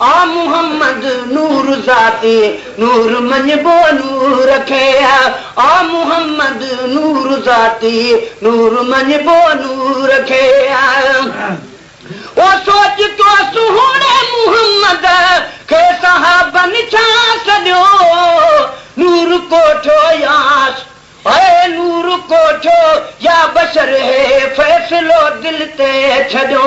آ محمد نور ذاتي نور مڃبو نور کي آ محمد نور ذاتي نور مڃبو نور کي او سوچ تو سهڻي محمد کي صحابن ڇا سڏيو نور ڪوٺيو ياس هئي نور ڪوٺيو يا بشر هي فيصلو دل تي ڇڏيو.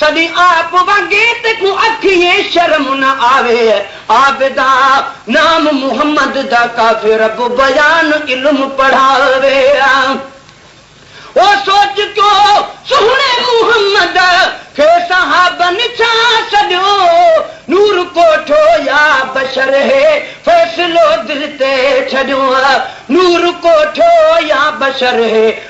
سڏي آپ وڳي تي ڪو اکيي شرم نه آوي عابدا نام محمد دا ڪافي رب بيان علم پڙهاوي او سوچ ڪيو سهڻي محمد کي صحابن ڇا سڏيو نور ڪوٺو يا بشر هي فيصلو دل تي ڇڏيو نور ڪوٺو يا بشر هي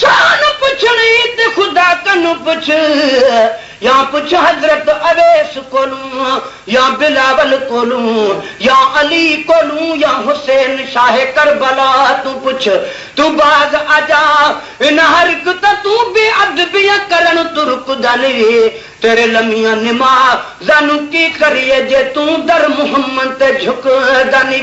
سان پڇڻ ئي ته خدا کن پڇ يا پڇ حضرت اويس ڪولون يا بلاول ڪولون يا علي ڪولون يا حسين شاهه ڪربلا تون پڇ تون باز آجا ان حرڪت تون بي ادبيء ڪرڻ ترڪ داني تيري لميان نما زانو ڪي ڪريء جي تون در محمد تي جهڪ داني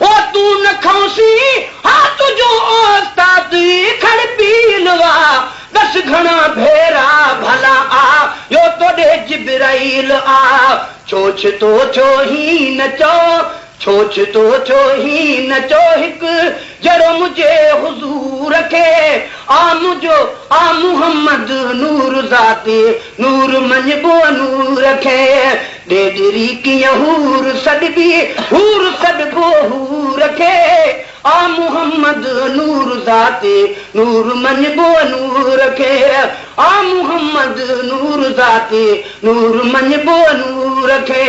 او تون نه کئونسين ها تنهنجو اوستاد کڙ پيل وا دس گهڻا ڀيرا ڀلا آ يو توڏي جبرائيل آ ڇو ڇتو ڇو هي نه چو ڇو ڇتو ڇو هي نه چو هڪ جهڙو منهنجي حضور کي آ منهنجو آ محمد نور ذاتي نور مڃبو نور کي ڏيڏري ڪيئن حور سڏبي، حور سڏبو حور کي، آ محمد نور ذاتي، نور مڃبو نور کي، آ محمد نور ذاتي، نور مڃبو نور کي.